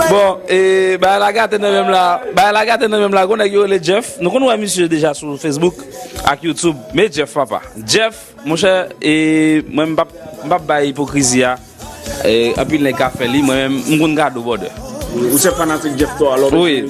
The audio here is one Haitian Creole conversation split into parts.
Bon, e bay la gate nan menm la Bay la gate nan menm la Gwonèk yo le Jeff Nou kon wè misye deja sou Facebook Ak Youtube Me Jeff papa Jeff, monchè E mwen mbap Mbap bay ipokrizi a E anpil nèg ka fè li Mwen menm mkonn gade w brother Ou se fanatik Jeff to a love you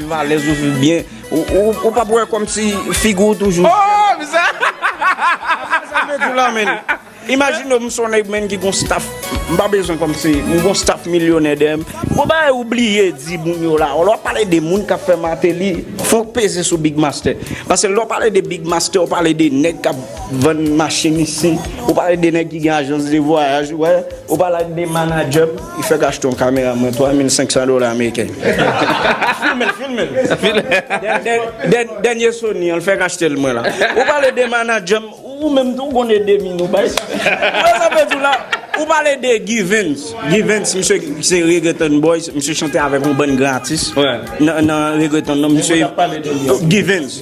Viv alèz ou viv byen ou pap wè kòmsi figi ou toujou ooh mizè hahahaha sa mwen di la menn imajine ou m son nèg menn ki gon staff m pa bezwen kòmsi m gon staff milyonè dèyè m gon bagay ou bliye di moun yo la lè w pale de moun kap fè Martelly fò w peze sou Big Mastè paske lè w pale de Big Mastè ou pale de nèg kap vann machin isit ou pale de nèg ki gen ajans de vwayaj ou wè. Ou pale ak de manager m. Li fèk achte yon kamera mwen 3500 dola ameriken. Filme l, filme l. Dènye Sony an l fèk achte l mwen la. Ou pale de manager m. Ou menm tou ou konn ede min ou bay. Ou wè sa m vle di w la? Ou pale de Givens. Givens misye se Reggaeton Boys. Misye chante avèk yon bann gran atis nan Reggaeton. Nan misye. Givens.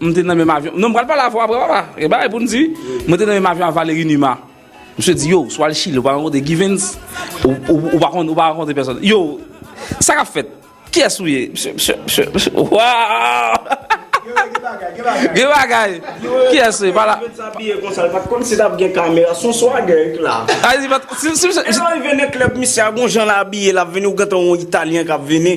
M te nan menm avyon Non m pral pale avè w aprè papa Gen bagay pou n di Mwen te nan menm avyon ak Valéry Numa Misye di yow si w al Chili ou pa rankontre Givens Ou pa konn ou pa rankontre pèsòn Yow sa k ap fèt Kiyès ou ye Misye misye misye misye Waww Gen bagay Kiyès ou ye pala Givens abiye konsa l pa t konn si t ap gen kamera S on swagè k la Epi l ap rive nan klèb misye a gon jan l abiye l ap vini ou gen tan w on italyen k ap vini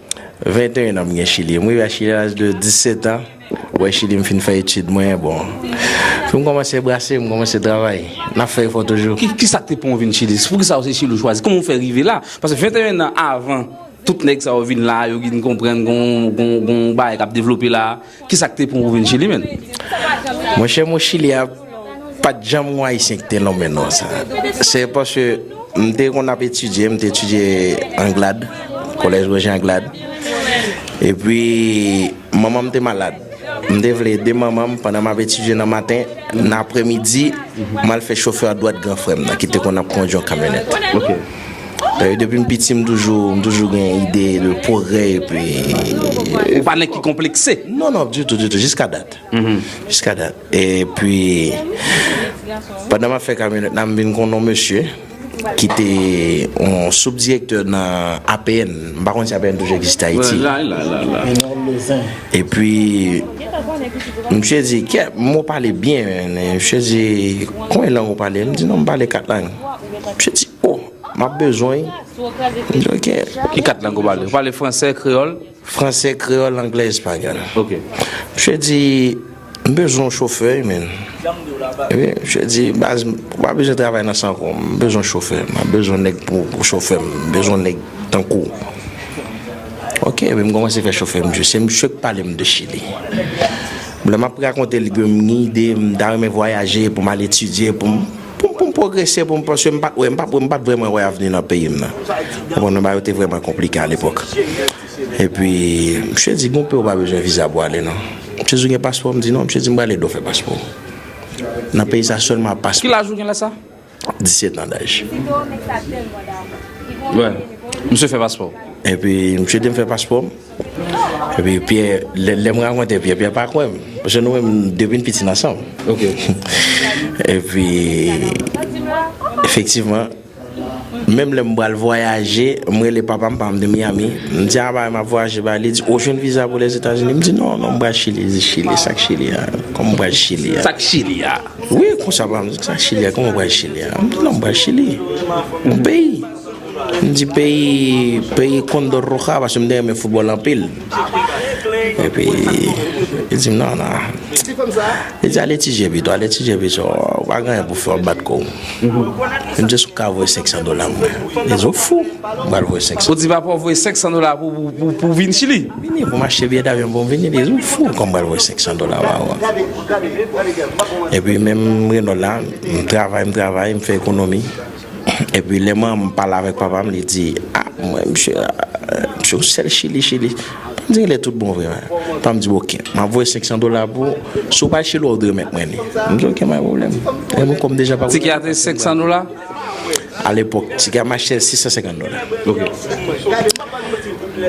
21 an m gen chili m rive a chili a laj de 17 an wè chili m fin fè etid mwen bon pou m kòmanse brase m kòmanse travay n ap fè efò toujou. Kisa k te pran w vin chili poukisa w se chili w chwazi kòman w fè rive la paske 21 nan avan tout nèg sa yo vin la yo gin konprann gon bagay k ap devlope la. Kisa ki te pran ou vin chili menn? Mon chè mwen chili a pat janm yon ayisyen ki te lonmen non sa. Se paske m te konn ap etidye, m te etidye anglad, kolèj Roger anglad. E pi manman m te malad, m te vle ede manman m pandan m ap etidye nan maten, nan apremidi m al fè chofè dwat gran frè m nan ki te konn ap kondwi yon kamyonèt. Depi m piti m toujou gen ide de pwogrè epi. Ou pa nèg ki konplekse? Non non, ditou ditou, jiska dat. Jiska dat. Epi pandan m ap fè kamyonèt la m vin konn yon mesye ki te yon soubdirektè nan APN. M pa konn si APN toujou egziste Ayiti. Epi misye di, kèt, m wè w pale byen. Misye di, konbyen lang ou pale? M di non m pale kat lang. Msye di oh map bezwen Ki kat lang ou pale? Ou pale fransè, kreyòl? Fransè, kreyòl, anglè, espanyòl Ok Msye di M bezwen yon chofè wi menn Msye di baz m pa bezwen travay nan san kò m bezwen chofè Mwen bezwen nèg pou chofè m M bezwen nèg tankou w Ok epi m kòmanse fè chofè msye Se msye k pale m de chili Lè map rakonte l ke m gen ide m ta renmen vwayaje pou m al etidye pou m Pou m pwogrese, pou m panse, m pa t wè, m pa m pa t vrèman wè avni nan peyi m nan. Ou konprann, bagay yo te vrèman konplike alepòk. Epi, misye di, gen yon peyi ou pa bezwen viza pou ale non. Misye di, ou gen paspò? M di, non. Misye di, m pral ede w fè paspò w. Nan peyi sa, sèlman ak paspò. Ki laj ou gen lè sa? Diset an daj. Misye fè paspò w. Epi, misye ede m fè paspò m. Epi Pierre, lè m rakonte Pierre, Pierre pa kwè m. Paske nou menm depi n piti n ansanm. Epi efektivman, menm lè m pral vwayaje, m rele papa m, papa m te Miami, m di a bay m ap vwayaje bay, li di ou jwenn viza pou Lèzetazini? M di non, non m pral Chili. Li di Chili, sa k Chili a? Kòman m pral Chili a? Sa k Chili a? Wi, konsa papa m di sa k Chili a? Kòman m pral Chili a? M di non m pral Chili, yon peyi. M di peyi peyi Condor Roja paske m te renmen foutbòl anpil. Epi li di m nan nan. Li di ale Tije pito, ale Tije pito. Ou pa gen anyen pou fè w ap bat kò w. Li di èske w ka voye 500 dola pou mwen. Li di ou fou, m pral voye 500. Ou di papa w voye 500 dola pou pou w vin Chili? Pou m vini, pou m achte biyè davyon pou m vini. Li di ou fou, kòman m pral voye 500 dola ba ou. Epi menm Renold la, m travay, m travay, m fè ekonomi. Epi lè manman m pale avèk papa m li di, a mwen msye a, msye yon sèl chili chili. Papa m di genlè tout bon vre a. Papa m di ok, m ap voye 500 dola pou ou, si w pa al chili wa ou remèt mwen li. M di ok pa gen pwoblèm. Lè mwen kòm deja pa gen. Tike a te 500 dola? A lepòk tike a m achte l 650 dola. Ok.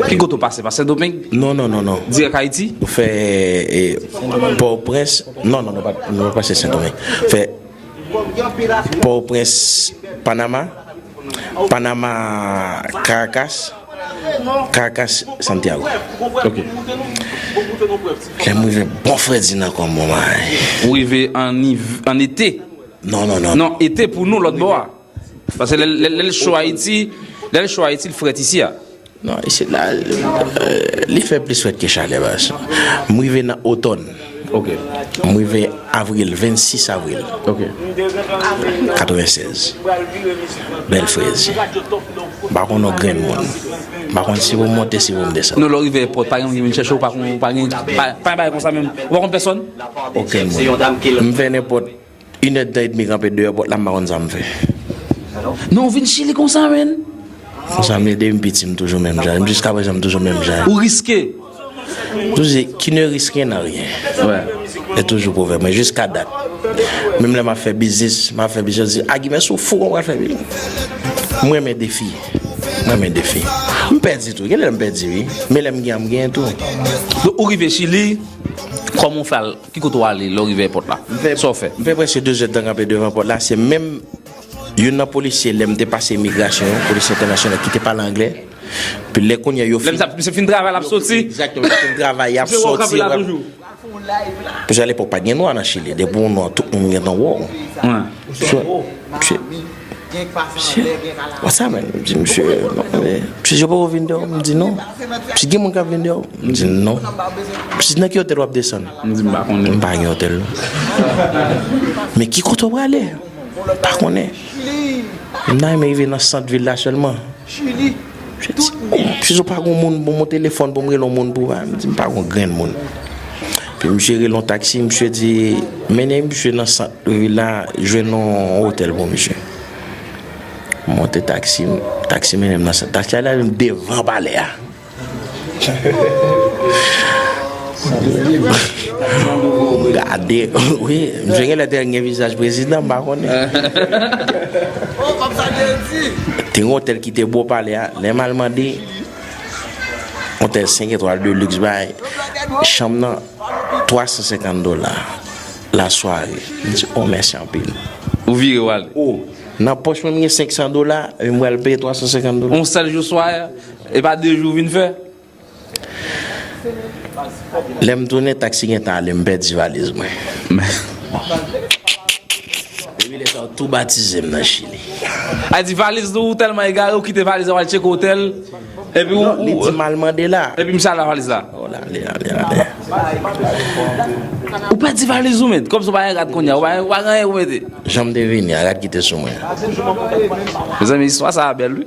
Ki kote ou pase? Pa Sendomeng? Non non non non. Dirèk Ayiti? Fè Pòtoprens, non non nou pa pase Sendomeng. Fè. Port-au-Prince, Panama, Panama, Caracas, Caracas, Santiago. Ok. Lèm rive bon fredi nan kòm bon bagay. Ou rive an été. Non non non. Non, été pou nou lòt bò a. Paske lè l cho Ayiti, lè l cho Ayiti l frèt isi a. Non, isit la, li fè plis frèt ke chalè. M rive nan otòn. Ok. M rive avril, 26 avril. Ok. 96. Bèl frèz. M pa konn yon grenn moun. M pa konn si pou m monte, si pou m desann. Non, lè w rive èpòt, pa gen moun ki vin chèche w, pa gen, pa gen, pa gen bagay konsa menm. Ou pa konn pèsòn? Okenn moun. M fè nenpòt. Yn èd tan edmi kanpe deyò pòt la m pa konn sam fè non ou vin chili konsa menn konsa m ye depim piti m toujou menm jan jiska prezan m toujou menm jan ou riske yo di ki ne riske nan ryen se toujou pwovèb mwen jiska dat menm lè map fè biznis map fè biznis yo di a gimè si w fou kòman w pral fè biznis m renmen defi m renmen defi m pèdi tou genlè m pèdi wi men lèm gen an m genyen tou ou rive chili kòman w fè al. Ki kote w ale lè w rive èpòt la? Sa w fè? M fè prèske de zè tan kanpe devan pòt la, se menm youn nan polisye lè m te pase imigrasyon, yon polisye entènasyonal ki te pale anglè, epi lè kounye a yo fin. Lè misye fin travay l ap soti? Egzakteman, misye fin travay y ap soti. Misye wè w kanpe la toujou? Paske alepòk pa t gen nwa nan Chili, depi w nwa tout moun gentan wè w. Misye wè w? Msye, wè sa menm? M di msye, msye yo poko vin deyò? M di non. Msye gen moun k ap vin deyò? M di non. Msye nan ki otèl w ap desann? M di m pa konnen. M pa gen otèl non. Men ki kote w prale? M pa konnen. M ta renmen rive nan sant vil la sèlman. Si sou pa goun moun pou moun telefon pou m rele yon moun pou ba m di m pa goun grenn moun. Pi misye rele yon taksi misye di mennen misye nan sant vil la jwenn yon otèl pou misye. M monte taksi m, taksi mennen m nan sant. Taksi a ale avè m devan palè a. Gade wi, misye genlè te gen vizaj prezidan m pa konnen. Te gen otèl ki te bò pale a, lè m al mande otèl 5 etwal de lux bay chanm nan 350 dola la sware. M di oh mèsi anpil. Ou vire w ale. Nan pòch mwen m gen 500 dola e m pral peye 350 dola. Yon sèl jou sware a? E pa de jou ou vin fè? Lè m tounen, taksi gen tan ale, m pèdi valiz mwen. Depi lè sa yo tou batize m nan Chili. A di valiz nou, ou tèlman egare ou kite valiz la ou al tcheke otèl epi ou. Li di m al mande la. Epi misye al la valiz la. Ou la li la li la. Ou pèdi valiz ou met, kòmsi ou pa gen kat kounya, ou pa gen anyen pou mete. Jan m te vini a, gad ki te sou mwen. Mezanmi istwa sa a bèl wi.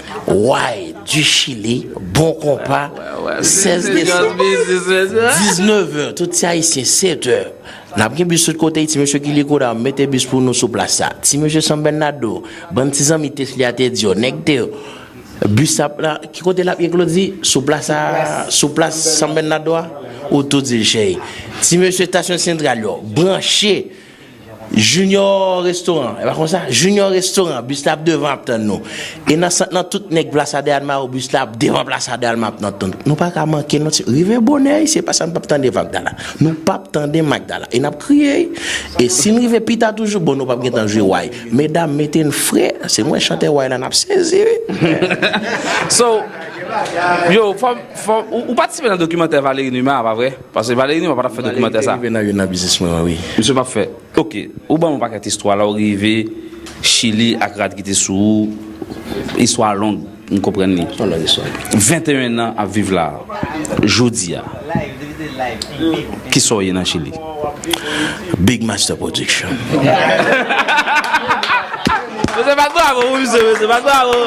Why du chili bon konpa 16 desanm 19 heures tout ti ayisyen 7 heures nap gen bis tout kote ti mesye kile koda mete bis pou nou sou plas la ti mesye san bènado bann ti zanmi tesly a te di yo nèg te bis la la ki kote lap ye klodi sou plas la sou plas san bènado a ou tou dil cheri ti mesye stasyon sentral yo branche Junior restaurant e pa konsa junior restaurant bus la ap devan ap tann nou e nan sant lan tout nèg plaza de almaro bus la ap devan plaza de alma ap nan tann nou paka manke non ti rive bonè wi se pasa nou pap tande vagdala nou pap tande magdala e nap kriye wi e sin rive pita toujou bon nou pap gentan jwe way medam mete n fre se mwen chantè way la nap sezi wi So yo fòm fòm ou patisipe nan dokimantè Valery Numa a pa vre? Pase Valery Numa patap fè dokimantè sa. Valery te rive nan youn nan biznis mwen an wi. Misye pap fè. Ok ou banm yon pakèt istwa lè ou rive chili ak rad ki te sou ou istwa a long m konprann li. Son long istwa. 21 nan ap viv la jodi a kisa w ye nan chili? Big master production. Misye bat bravo pou misye mesye bat bravo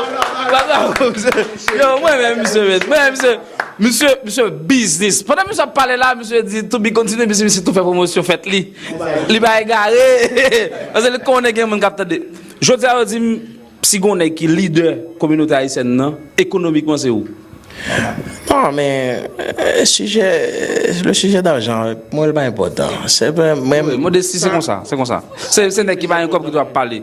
bat bravo pou misye yo mwen renmen misye mesye mwen renmen misye. Misye misye biznis. Pandan misye ap pale la misye di to be continue misye misye tou fè pwomosyon fèt li. Li pa egare paske li konnen gen moun k ap tande. Jodi a yo di m si gon nèg ki lidè kominote ayisyèn nan ekonomikman se ou. Non men sijè le sijè dajan mwen l pa enpòtan. Se mwen. Modesti se konsa se konsa. Se nèg ki pa gen kòb ki dwe ap pale.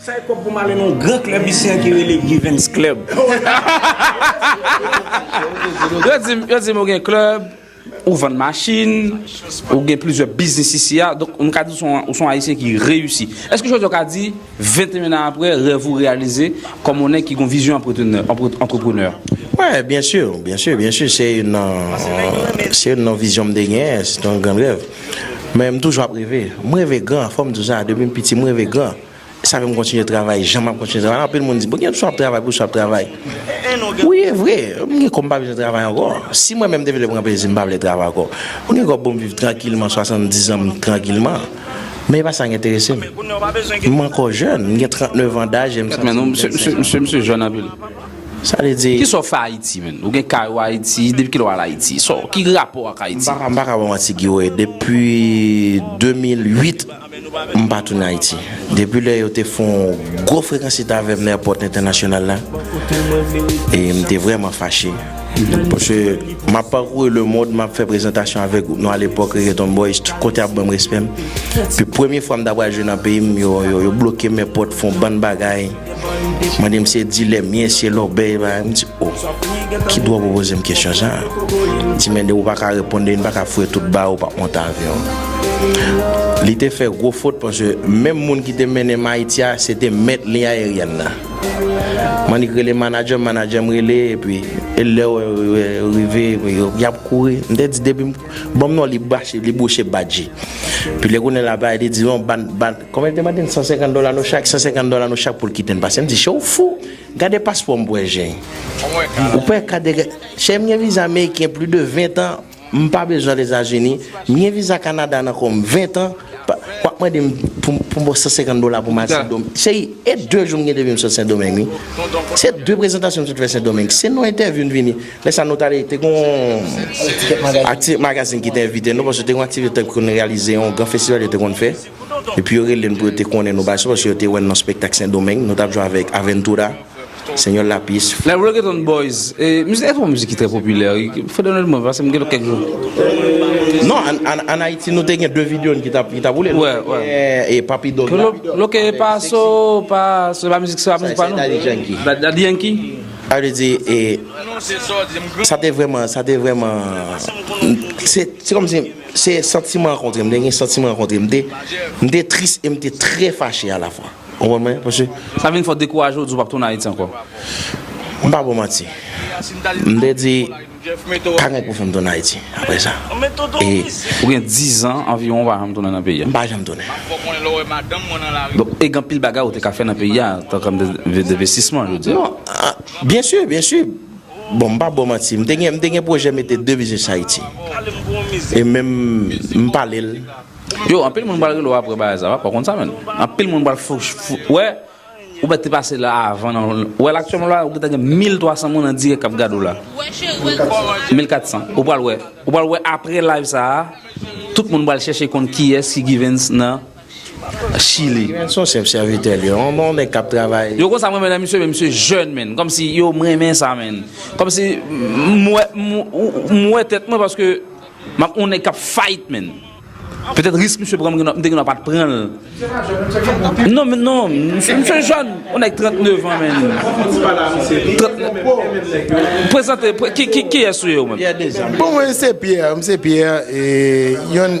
Sa e kob pou m ale nan yon gran klèb isi an ki rele Givens Club. Yo di m ou gen klèb, ou vann machin, ou gen plizyè biznis isi a, donk m ka di ou son Ayisyen ki reyisi. Eske jodi a ou ka di, 21 an aprè, rèv ou reyalize kòm yon nèg ki gen yon vizyon antreprenè? Wè, byen si, byen si, byen si. Se youn nan, se youn nan vizyon m te genyen, se te yon gran rèv. Men m toujou ap reve. M reve gran, fò m di w sa, depi m piti m reve gran. Sa fè m kontinye travay jan m ap kontinye travay la. Anpil moun di, Bon, gen pou sa w ap travay, pou sa w ap travay. Wi, e vre, m gen kò m pa bezwen travay ankò. Si mwen menm m te vle pran plezi m pa vle travay ankò. M gen kò pou m viv trankilman 70 an m trankilman. Men e pa sa k enterese m. M ankò jèn, m gen 39 an daj e m santi m jèn 16 an. Mesye, misye jèn anpil. Sa vle di. Kisa w fè Ayiti menn? Ou gen kay ou Ayiti? Depi kilè w al Ayiti? Sa w, ki rapò w ak Ayiti? M pa ka ba w manti Guy Royer. Depi 2008. M pa tounen Ayiti. Depi lè yo te fè yon gwo frekansite avè m nan èpòt entènasyonal la, e m te vrèman fache. Paske m ap pakouri lemond, m ap fè prezantasyon avè gwoup nou alepòk Reggaeton Boys, tout kote y ap ban m respè m. Epi premye fwa m ta pral jwe nan peyi m, yo bloke m èpòt, fè yon bann bagay. Mande m se dilè m ye, se lòbèy m ye, m di o. Ki dwa w pou poze m kesyon sa a? M di men de ou pa ka reponn de m pa ka foure tout ba ou pa monte avyon. Li te fè gwo fot paske menm moun ki te mennen m Ayiti a se te mèt liy ayeryèn nan. M annik rele manadjè m, manadjè m rele epi e lè yo rive epi y ap kouri. M te di depi m ban m non li bouche badji. Epi lè kounye l ap pale li di non ban Kòmè l te mande n 150 dola nou chak, 150 dola nou chak pou l kite n pase. M di, Chè, ou fou? Gade paspò m pou wè jen. Ou pa wè kat de. Chè, m gen viza Meriken plis de 20 tan, m pa bezwen al Etazini. M gen viza Kanada nan kò m 20 tan. W ap mande m pou m ba w 150 dola pou m al Sendomeng. Cheri, e 2 jou m gen depi m sot Sendomeng wi. Se 2 prezantasyon m sot fè Sendomeng. Se nan entèvyou n vini. Lè sa a nou t ale, te gen yon. Aktivite magazin ki te envite nou paske te gen yon aktivite yo te konn reyalize, yon gran festival yo te konn fè. Epi yo rele n pou yo te konnen nou bay so paske yo te wè n nan spektak Sendomeng. Nou t ap jwe avèk Aventura, Señor Lápiz. Lè Reggaeton Boys, e mizik sa se pa yon mizik ki trè popilè wi, fò de nòt mwen pase m gen kèk jou. Non, an Ayiti nou te gen 2 video n ki t ap boule. Nou te gen e Papi Doc la. Lo ke e pa so, pa so, e pa mizik sa, mizik pa nou. Sa e Daddy Yankee. Daddy Yankee. Sa vle di e, sa te vrèman, sa te vrèman, se kòm si. Se santiman an kontre, m te gen santiman an kontre. M te, m te tris e m te trè fache a la fwa. Ou konprann mwen? Paske. Sa vin fè w dekouraje, w di w pap tounen Ayiti ankò? M pa ba w manti. M te di, pa gen pou fè m tounen Ayiti aprè sa. E. Ou gen dizan anviwon ou pa janm tounen nan peyi a? M pa janm tounen. Donk, e gen anpil bagay ou te ka fè nan peyi a, tankou anpil envestisman, je veux dire. Non, byensi, byensi. Bon m pa bou w manti, m te gen m te gen pwojè mete 2 biznis Haiti. E menm m pale l. Yo, anpil moun pral rele w aprè bagay sa, wap konn sa menn. Anpil moun pral fou, fou, wè, ou mèt te pase la avan nan, wè la aktyèlman la ou gentan gen 1300 moun an dirèk kap gade w la. 1400. Ou pral wè, ou pral wè aprè live sa, tout moun pral chèche konn kiyès ki Givens nan. Chili. Ginen son chef serviteur li yon bon neg kap travay. Yo konsa m renmen nan misye men misye jeune menn komsi yo m renmen sa menn komsi m wè m wè tèt mwen paske map yon nèg kap fight menn petèt risk misye pran m te gen dwa pat pranl non men non misye jeune yon nèg 39 ans menn prezante kiyès ou ye ou menm bon mwen se pierre mwen se pierre yon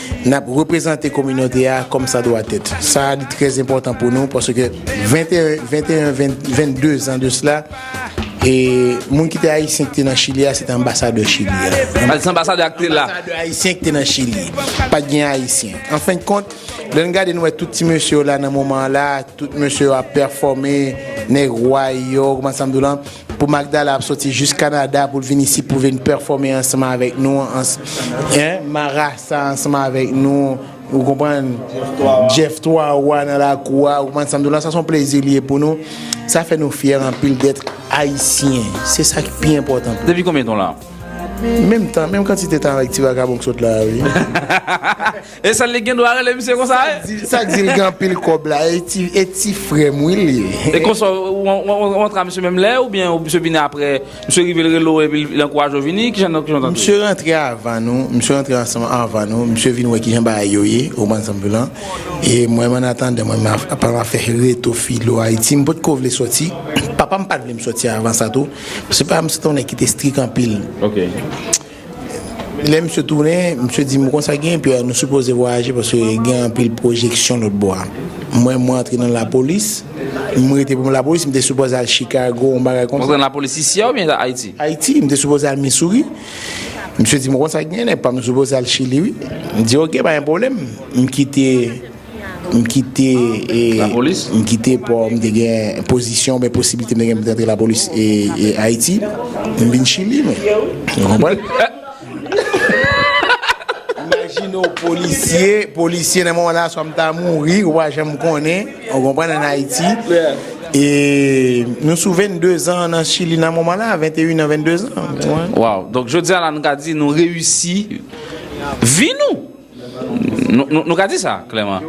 N ap reprezante kominote a kòm sa dwa tèt. Sa a li trè enpòtan pou nou paske 21, 22 zan de sla, moun ki te ayisyen ki te nan Chili a se te anbasadè Chili a. Anbasadè ayisyen ki te nan Chili. Pa t gen ayisyen. Anfendkont, lè n gade n wè tout ti mesye yo la nan moman an la, tout mesye yo ap pèfòme, nèg way yo, ou konprann sa m di w lan? Pou Magdala ap soti jis Canada poul vin isi pou vin pèfòme ansanm avèk nou hein marasa ansanm avèk nou ou konprann Jeff 3 wa nan lakou a ou konprann sam di w la sa son plezi li ye pou nou sa fè nou fyè anpil d'être Haïtien se sa ki pi enpòtan pou nou. Depi konbyen tan w la? Menm tan menm kantite tan avèk ti vagabon k sot la a wi. E sèl li gen dwa rele misye konsa e? Sak di li gen anpil kob la e ti frem wi li ye. E konsa ou antre a misye menm lè ou byen misye vini apre misye rive li rele ou epi li ankouraje ou vini kijan nou tande. Misye rantre avan nou misye rantre ansanm avan nou misye vin wè kijan bagay yo ye ou konprann sam di w lan e mwen menm annatandan mwen menm apa map fè reto filo ayiti m potko vle soti papam pat vle m soti avan sa tou se pa misye te yon nèg ki te strik anpil. Lè misye tounen, misye di m kon sa genyen Pierre, nou sipoze vwayaje paske gen anpil pwojeksyon lòt bò a. Mwen mwen antre nan lapolis, m rete pou m lapolis, m te sipoze al Chicago yon bagay konsa. Ou antre nan lapolis isi a oubyen Ayiti? Ayiti, m te sipoze al Missouri. Misye di m kon sa genyen nèg pa m, nou sipoze al Chili wi. M di ok pa gen pwoblèm, m kite. M kite m kite pò m te gen pozisyon oubyen posiblite m te gen pou m te antre lapolis Ayiti, m vin Chili mwen. Ou konprann? Imajine w polisye, polisye nan moman la swa m ta mouri ou pa janm konnen, ou konprann an Ayiti. E nou sou 22 zan nan Chili nan moman la, 21 an, 22 zan. Waww, donk jodi a la nou ka di nou reyisi vi nou! Nou ka di sa klèman.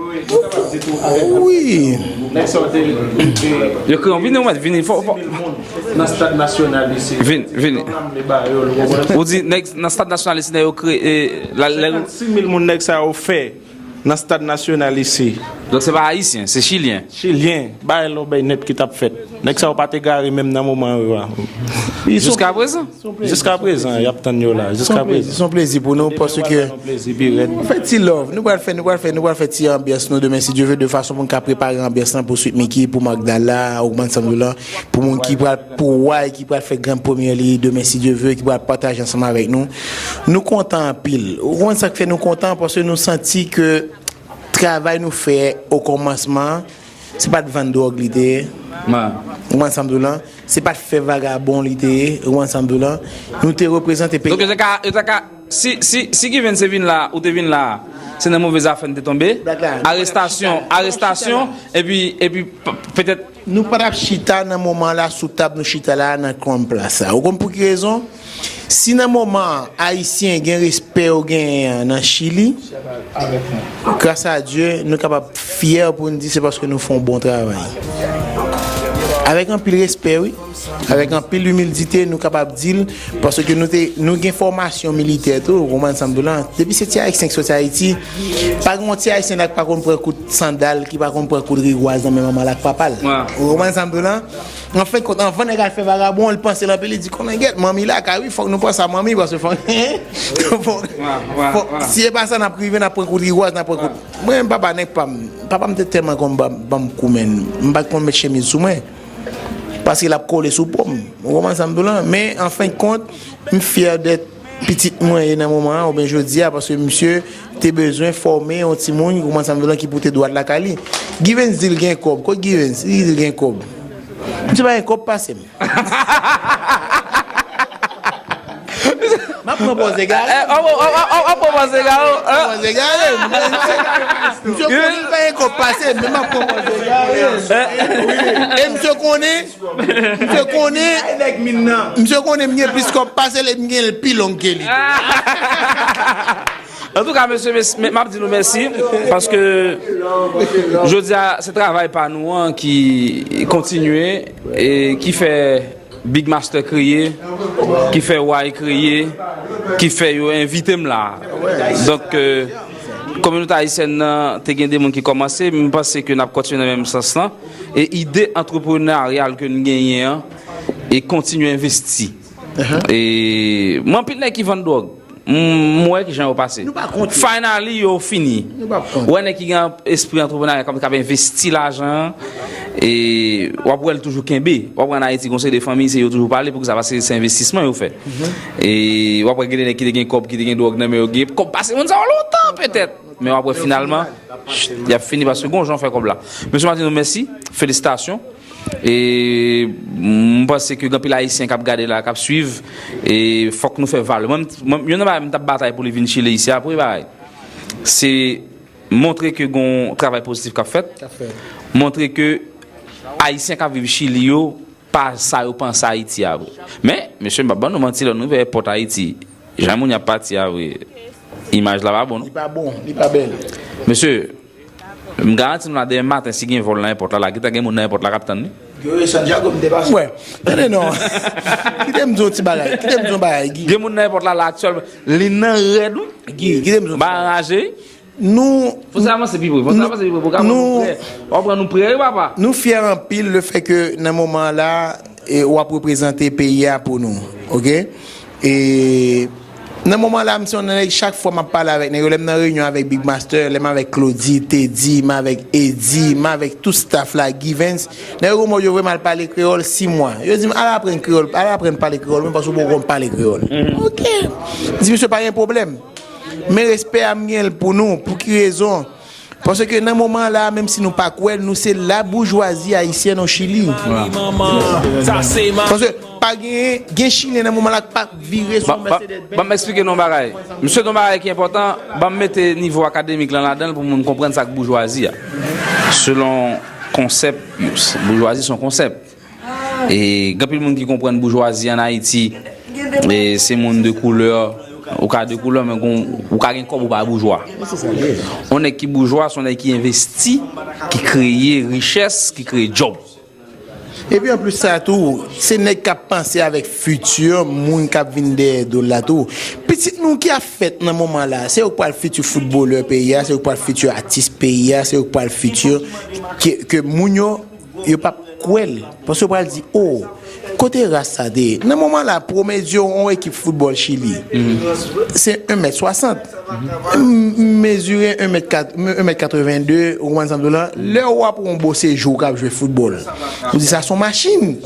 Ou di nèg nan stad nasyonal isi nan yo kreye. 56 mil moun nèg sa yo fè nan stad nasyonal isi. Donk se pa ayisyen, se chilyen. Chilyen, bay lòbèy nèt ki t ap fèt. Nèg sa yo pa t egare menm nan moman yo a. Jiskaprezan. Jiska prezan yap tann yo la. Jiska prezan. Son plezi pou nou paske. Nou plezi pi rèd. Nou fè ti love. Nou pral fè, nou pral fè, nou pral fè ti anbyans nou demen si Dieu veut de fason pou nou ka prepare anbyans lan pou Sweet Micky, pou Magdala, Ogman Sanjou lan, pou moun ki pral pou Roy ki pral fè grand première li demen si Dieu veut ki pral pataje ansanm avèk nou. Nou kontan anpil. Ou konn sak fè nou kontan paske nou santi ke travay nou fè o komansman Se pa t vann dwòg li te ye, ou ansanm tou lan, se pa t fè vagabon li te ye, ou ansanm tou lan, nou te reprezante peyi a. Donk yo ta ka, si Given se vin la, ou te vin la, se nan move zafè n te tonbe, arestasyon, arestasyon, epi, epi petèt. Nou pa t ap chita nan moman la sou tab nou chita la a nan Crown Place la. Ou konn pou ki rezon? Si nan moman an Ayisyen gen respè yo genyen an nan Chili, gras a Dye nou kapab fyè pou n di se paske nou fè yon bon travay. Avèk anpil respè wi, avèk anpil imildite nou kapab di l paske nou te nou gen fòmasyon militè tou ou konprann sa m di w la. Depi se ti Ayisyen ki soti Ayiti, pa gen yon ti Ayisyen la ki pa konn pran kout sandal, ki pa konn pran kout rigwaz nan men manman l ak papa l. Ou konprann sa m di w la? An fen kont, anvan nèg al fè vagabon, li panse l anpil, li di kòmengèt, manmi laka wi, fòk nou panse a manmi paske fòk, fòk, si e pa sa n ap rive n ap pran kout rigwaz, n ap pran kout. Mwen menm papa nèg pa m, papa m te tèlman konn ban m kou menn, m pa t konn met chemiz sou mwen paske l ap kole sou po m, ou konprann sa m di w lan? Men, an fen kont, m fyè dèt. pitit mwen ye nan moman an oubyen jodi a paske misye te bezwen fòme yon timoun kouman sa vle ki pou te dwat lakay li Givens di l gen kòb kot Givens li di l gen kòb misye pa gen kòb pase m m ap pran pòz egare m w ap pran pòz egare m w ap pran pòz egare m misye konnen l pa gen kòb pase m men m ap pran pòz egare m e misye konnen Misye konnen Misye konnen m gen plis kòb pasel e m gen l pi long ke li tou. Antouka mesye m ap di nou mèsi paske jodi a se travay pa nou an ki kontinye e ki fè Big Master kreye, ki fè Way kreye, ki fè yo envite m la. Donk kominote ayisyèn nan te gen de moun ki kòmanse, m panse ke n ap kontinye nan menm sans lan. E ide entrepreneurial ke nou genyen an e kontinye envesti. E m anpil nèg ki vann dwòg. M wè kijan yo pase. Nou pa kont yo. Finally yo fini. Nou pa kont yo. Ou wè nèg ki gen espri entrepreneurial kap kap envesti lajan an e wap wèl toujou kenbe. Wap wè an Ayiti gen yon seri de fanmi se yo toujou pale poukisa paske se envestisman yo fè. E wap wè gen de nèg ki te gen kòb ki te gen dwòg nan men yo gen kòb pase moun sa yo lontan petèt men wap wè finalman. Yap fini paske gon jan w fè kòb la. Mesye Martineau mèsi, felisitasyon. E m panse ke gen anpil ayisyen k ap gade la, k ap suiv e fòk nou fè valè. Mwen m youn nan bagay m t ap batay pou li vin Chile isi a premye bagay se montre ke gon travay pozitif k ap fèt, montre ke ayisyen k ap viv Chili yo pa sa yo panse ayiti a vre men mesye m pap ban nou manti lè nou rive èpòt ayiti jan moun yo ap pati a vre imaj la pa bon non. Li pa bon, li pa bèl. Mesye m garanti nou la demen maten si gen vòl nan èpòt la la gentan gen moun nan èpòt la kap tann li. Guy santiago m te pase. Wè tande non kite m di w yon ti bagay kite m di w yon bagay Guy. Gen moun nan èpòt la la aktyèlman li nan rèd wi. Guy kite m di w yon ti bagay. M pa anraje wi. Nou fyè anpil le fè ke nan moman an la ou ap reprezante peyi a pou nou. Ok. E nan moman an la m se yon nan nèg chak fwa m ap pale avèk nèg yo lè m nan reyinyon avèk Big Master, lè m avèk Claudy, Teddy, m avèk Eddy, m avèk tout staff la, Givens, nèg yo komòj yo vle m al pale kreyòl 6 mwa. Yo di m al aprann kreyòl, al aprann pale kreyòl menm paske ou poko konn pale kreyòl. Ok. M di misye pa gen pwoblèm. Men respè a m gen l pou nou, pou ki rezon? Paske nan moman la a, menm si nou pa kwè l, nou se laboujwazi ayisyèn o Chili. Paske pa gen, gen Chilyen nan moman la k pa vire sou yon Mercedes Benz. Ban m esplike nou yon bagay. M sot yon bagay ki enpòtan, ban m mete nivo akademik lan ladan l pou moun konprann sa k boujwazi a. Selon konsèp yo, boujwazi se yon konsèp. E gen pil moun ki konprann boujwazi an Ayiti se moun de koulè. Ou ka de koulè men ou ka gen kòb ou pa boujwa. Yon nèg ki boujwa se yon nèg ki envesti, ki kreye richès, ki kreye djòb. E pi anplis sa tou, se nèg k ap panse avèk fiti moun k ap vin dèyè do l la tou. Pitit nou ki ap fèt nan moman la, se yo k pral fiti foutbolè peyi a, se yo k pral fiti atis peyi a, se yo k pral fiti ke moun yo Yo pap kwèl paske yo pral di oh kote ras sa te ye nan moman la promedio yon ekip football chili se 1 mèt 60 m mezire 1 mèt 82 ou konprann sam di w la lè ou wap wè yon bosejour kap jwe football ou di sa son machine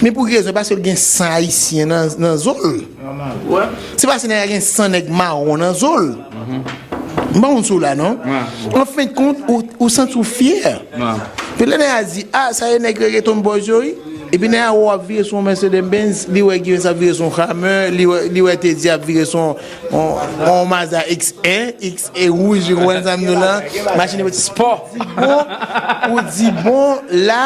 men pou ki rezon paske l gen san ayisyen nan zon l. Se pase nèg la gen san nèg mawon nan zo l. M pa konn si w la non. An fen de kont, ou santi w fyè. Epi lè nèg la di, a sa e nèg regeton boys yo wi. Epi nèg la wè w ap vire sou yon Mercedes Benz, li wè Givens ap vire sou yon Hummer, li wè Teddy ap vire sou yon Mazda X1, X1 wouj, ou konprann sa m di w la? Machin spò. Ou di bon la.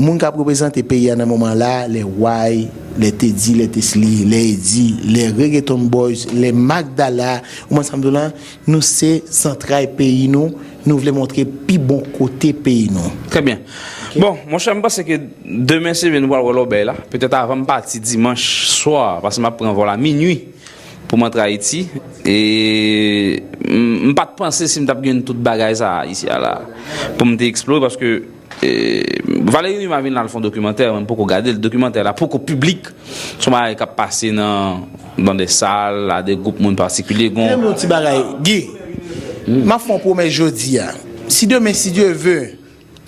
Moun kap reprezante peyi a nan moman la, lè Way, lè Teddy, lè Tesly, lè Eddy, lè Reggaeton Boys, lè Magdala, ou konprann sam di w lan, nou se zantray peyi nou, nou vle montre pi bon kote peyi nou. Trè byen. Bon, monchè m panse ke demen se vre nou pral wè lòbèy la. Petèt avan m pati dimanch swa, pase m ap pran vòl a minui pou m antre Ayiti. E m pa t panse si m t ap jwenn tout bagay sa a isi a la pou m te eksplore paske. Valery Numa vin la al fon dokimantè mwen poko gadel dokimantè la poko piblik son bagay kap pase nan nan de sal a de group moun patikilye gon. Kèm yon ti bagay Guy map fon pwomès jodia si demen si Dye ve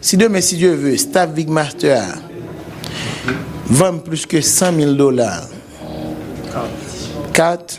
si demen si Dye ve staff big master a vann plis ke 100 mil dola kart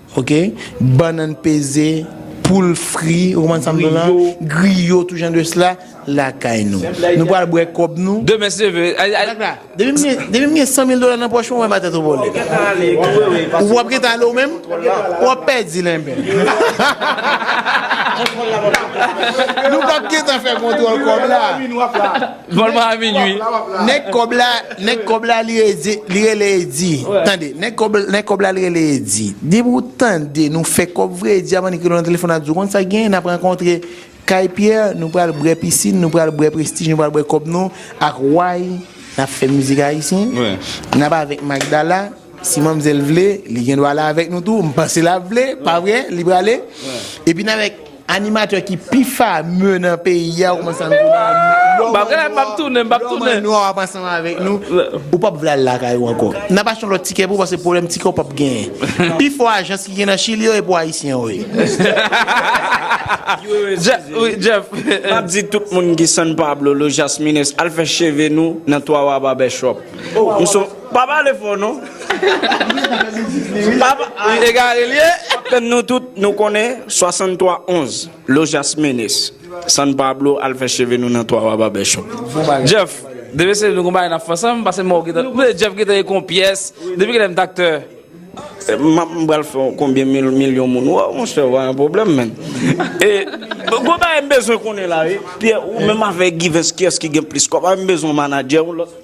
Ok bannann peze poul fri ou konprann sam vle la griyo tou jan de sla lakay nou nou pral bwè kòb nou Demen seve depim gen 100 mil dola nan pòch mwen wè ma tèt ou vole ou wap gentan ale ou menm wap pèdi lenbe nou pap gentan fè kontwòl kòb la. Vòl mwen a minwi. Nèg kòb la, nèg kòb la li redi, li rele Eddy. Tande, nèg kòb, nèg kòb la li rele Eddy. Depi ou tande nou fè kòb vre Eddy ap annik rele w nan telefòn ap di w konn sa k genyen nap rankontre kay Pierre nou pral brè pisin, nou pral brè prestij, nou pral brè kòb nou ak way nap fè mizik ayisyen, nap avèk Magdala. Si manmzèl vle, li gen dwa ale avèk nou tou. M panse l ap vle, pa vre? Li prale. Epi n avèk animatè ki pi fameux nan peyi a, ou kòmanse ap vin la. M ap ale, m ap tounen, m ap tounen. Lòman nwa w ap ansanm avèk nou. Ou p ap vle al lakay ou ankò. N ap achte yon lòt tikè pou ou paske pwoblèm tikè ou p ap genyen. Pi fò ajans ki gen nan Chili yo e pou Ayisyen yo ye. Jeff, wi, Jeff. M ap di tout moun ki San Pablo, Los Jasmines, al fè cheve nou nan Twawa Barbershop. M son. Pa pale fò non. Li egare li ye. Kaptenn nou tout nou konnen 63 11 Lojas Menes San Pablo al fè cheve nou nan 3 wa Barbershop. Jeff, depi se nou gon bagay nap fè ansanm, pase mwen ou gentan, ou konnen Jeff gentan gen kon pyès, depi kilè m t aktè? Map m pral fè konbyen mil milyon moun wè w monchè ou pa gen pwoblèm menn. E gon bagay m bezwen konnen la wi, Pierre ou menm avèk Givens kiyès ki gen plis kòb, m bezwen yon manadjè yon lòt.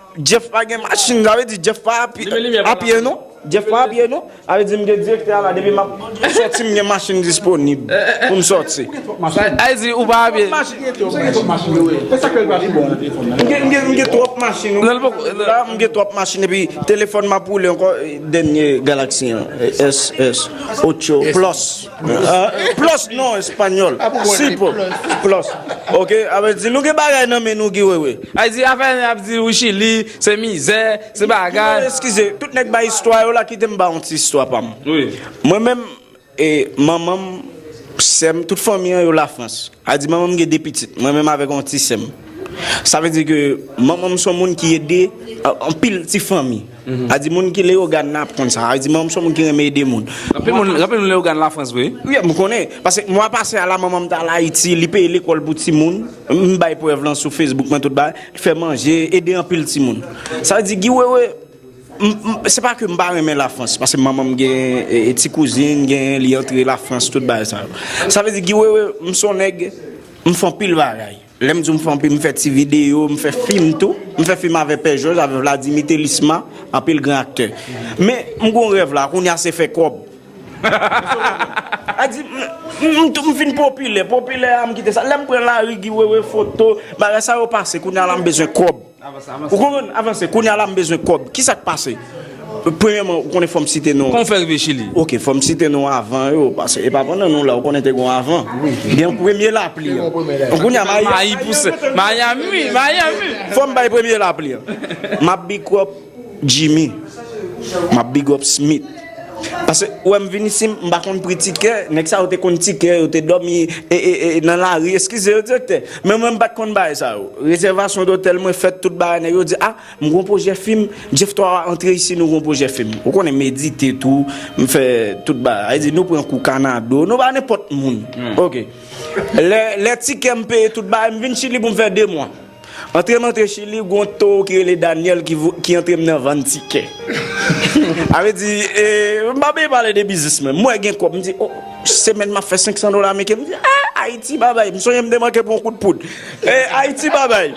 Jeff pa gen machine sa vle di Jeff pa apiye non Jeff pa apiye non sa vle di m gen direktè a la depi map soti m gen machine disponib pou m soti sa vle di ou pa apiye m gen twòp machine m gen twòp machine epi telefòn map woule ankò dènye galaxy an S S otyo plus. Plus non español. Si po. Plus. Ok. Ape di nou gen bagay nan men nou giwewe. Ay di afè nèg ap di ou chili, se mizè, se bagay. Giwewe eskize, tout nèg bay istwa yo la kite m ba yon ti istwa pa m. Wi. Mwen menm e manman m, sè m, tout fanmi an yo la frans. A di manman m gen 2 pitit, mwen menm avèk yon ti sè m. Sa vle di ke manman m son moun ki ede anpil ti fanmi. A di moun ki Leyogàn nan ap konn sa. A di manman m se yon moun ki renmen ede moun. Anpil moun renmen Leyogàn Lafrans vre wi. Wi, m konnen. Paske mwa pase a la manman m t al Ayiti, li peye lekòl pou timoun. M bay prèv lan sou Facebook mwen tout bagay. Li fè manje, ede anpil timoun. Sa vle di Guy Wewe, se pa ke m pa renmen Lafrans, paske manman m gen ti kouzin, gen li antre Lafrans tout bagay sa yo. Sa vle di Guy Wewe, m se yon nèg, m fè anpil bagay. Lèm diw m fè anpil m fè ti video, m fè fim tou, m fè fim avè pè jòj avè vladimi telisma anpil gran aktè men m gon rèv la kounya se fè kòb Adi m fin popilè popilè a m kite sa lèm pran lari gi wewe foto bagay sa yo pase kounya la m bezwen kòb. Ou konprann? Avanse. Kounye a la m bezwen kòb. Ki sa k pase? Premyèman, ou konnen fò m site nou. Kòman w fè rive Chili? Ok, fò m site nou avan yo. Pase e pa pandan nou la. Ou konnen te gen yon avan. Gen yon premye lapli. Kounye a mayi a. Mayi pouse. Mayami! Mayami! Fò m bay premye lapli an. M ap bikròp. Jimmy map big up smith pase ou wèm vin isi m pa konn pri tikè nèg sa yo te konn tikè yo te dòmi nan lari eskize yo direktè men mwen m pat konn bagay sa yo rezèvasyon dotèl mwen fèt tout bagay nèg yo di a m gon pwojè fim jeff 3 wa antre isi nou gon pwojè fim ou konnen m edite tou m fè tout bagay sa vle di nou pran kou kanado nou pa nenpòt moun ok lè tikè m peye tout bagay m vin chili pou m fè 2 mwa. Antre m antre chili gon towo ki rele Daniel ki antre m nan vann tikè a vle di m pa byen pale de biznis mwen m wè gen kob m di oh semèn map fè 500 dola ameriken m di ah ayiti babay m sonje m te manke pran yon kout poud eh ayiti babay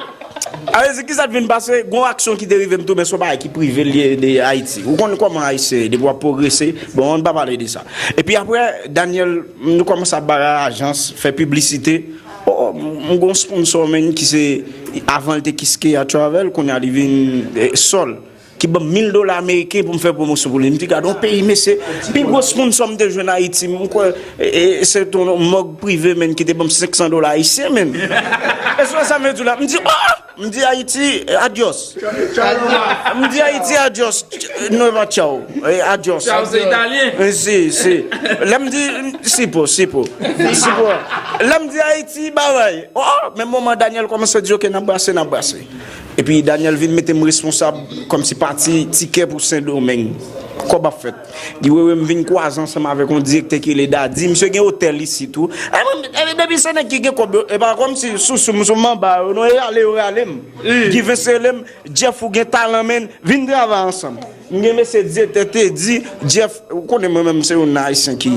a vle di kisa t vin pase gon aksyon ki te rive m tou men son bagay ki prive l ye de ayiti ou konn koman ayisyen ye depi wap pwogrese bon ann pa pale de sa epi aprè Daniel nou komanse ap bagay ajans fè piblisite Oh m gon sponsor menn ki se avanl te kiskeya travel kounya li vin sol ki banm 1000 dola ameriken poum fè pwomosyon pou li m di gad on peyi mesye pi gwo sponsor m te jwenn ayiti m kwè se ton mòg prive menn ki te banm 500 dola ayisyen menn esou wè sa m vle diw la m di oh M di Ayiti adyòs. M di Ayiti adyòs. Nueva chao. Adyòs. Chao se italyen. Si, si. Lè m di, sipo, sipo. Sipo. Lè m di Ayiti bavay. O! Menm moman Daniel kòmanse di ok n ap brase, n ap brase. Epi Daniel vin mete m responsab kòmsi pati tikè pou Sendomeng. Kòb ap fèt. Guy Wewe m vin kwaze ansanm avèk yon direktè ki rele Dady, misye gen otèl isit tou. Ay mwen menm, epi depi se nèg ki gen kòb yo, e pa kòmsi sousou m sou manba yo non, e rale yo rale m. Guy Vens rele m, Jeff ou gen talan menn, vin travay ansanm. M gen mesye direktè Teddy, Jeff, ou konnen mwen menm se youn nan ayisyen ki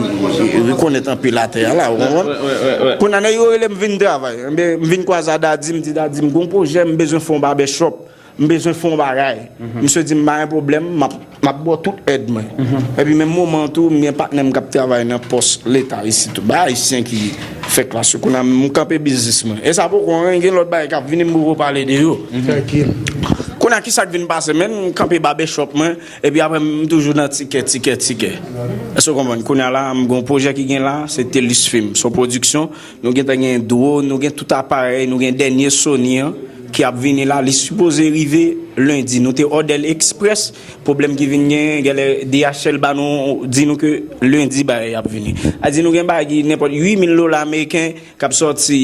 rekonèt anpil atè a la, ou konprann. Kounye a nèg yo rele m vin travay, m vin kwaze a Dady, m di Dady m gen yon pwojè, m bezwen fè yon babèchòp. M bezwen fè yon bagay. Misye di m pa gen pwoblèm, m ap ba w tout èd mwen. Epi menm moman an tou, m gen patnè m k ap travay nan pòs Leta isit tou. Ba Ayisyen ki fè klas yo. Kounye a, m kanpe biznis mwen. E sa poko anyen, gen lòt bagay k ap vini m poko pale de yo. Kounye a, ki sa k vin pase menm? M kanpe babèchòp mwen, epi apre m toujou nan tikè, tikè, tikè. Èske w konprann? Kounye a la, m gen yon pwojè ki gen la, se Telus Film. Se yon pwodiksyon. Nou gentan gen drone, nou gen tout aparèy, nou gen dènye Sony an ki ap vini la, li sipoze rive lendi. Nou te òdè l eksprès, pwoblèm ki vin genyen, gèlè DHL ba nou, di nou ke lendi bagay yo ap vini. A di nou gen bagy nenpòt 8 mil dola ameriken k ap sòti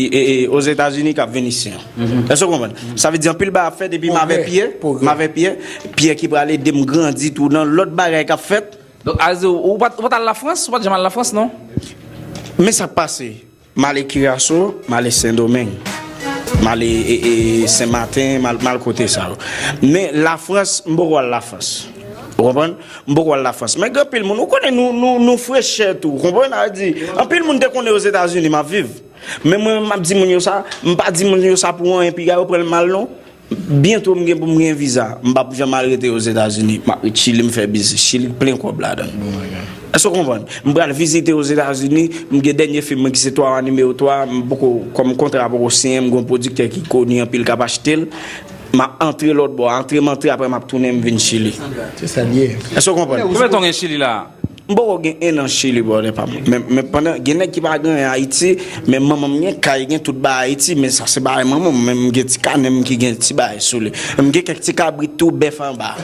Ozetazini k ap vin isi an. Èske w konprann? Sa vle di anpil bagay ap fèt epi m avè Pyè, m avè Pyè, Pyè ki prale ede m grandi tou nan lòt bagay k ap fèt. Donk Aze ou pa t al Lafrans? Ou pa t janm al Lafrans non? Men sa k pase, m ale Kiraso, m ale Sendomeng, m ale Senmaten, m al kote sa yo. Men Lafrans, m poko al Lafrans. Ou konprann? M poko al Lafrans. Men gen anpil moun, ou konnen nou frechè tou. Ou konprann? A di, anpil moun te konnen Ozetazini m ap viv. Men mwen menm m ap di moun yo sa, m pa di moun yo sa pou anyen piga yo pran l mal non. Byento m gen pou m gen viza. M pap janm al rete Ozetazini. M ap ret Chili m fè biznis. Chili plen kòb ladan l. Èske w konprann? M pral vizite Ozetazini. M gen dènye fim mwen ki se Twawa Nimewo 3. M poko, kòm kontra a poko siyen, m gen yon pwodiktè ki koni anpil k ap achte l. M ap antre lòtbò a. Antre m antre apre m ap tounen m vin Chili. Se sa l ye. Èske w konprann? Konbyen tan w gen Chili la a? M poko gen 1 an chili brother pam men pandan gen nèg ki pa gen anyen ayiti men manmanm gen kay gen tout bagay ayiti men sa se bagay manmanm men m gen ti kanèm ki gen ti bagay sou li m gen kèk ti kabrit tou bèf anba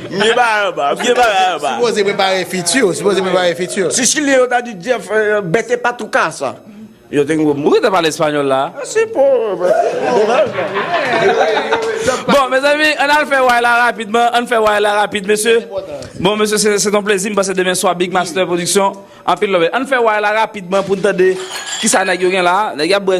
m gen bagay anba m gen bagay anba Sipoze prepare fiti w sipoze prepare fiti w. Si chilyen yo ta di Jeff bèt epa tou kasa. Yo te gnbo mouri nan pale español la. Mèsi pou domaj la. Bon mezanmi ann al fè way la rapidman ann fè way la rapid mesye bon mesye se ton plezi m pase demen swa big master production anpil love ann fè way la rapidman poun tande kisa nèg yo gen la nèg yo ap bwè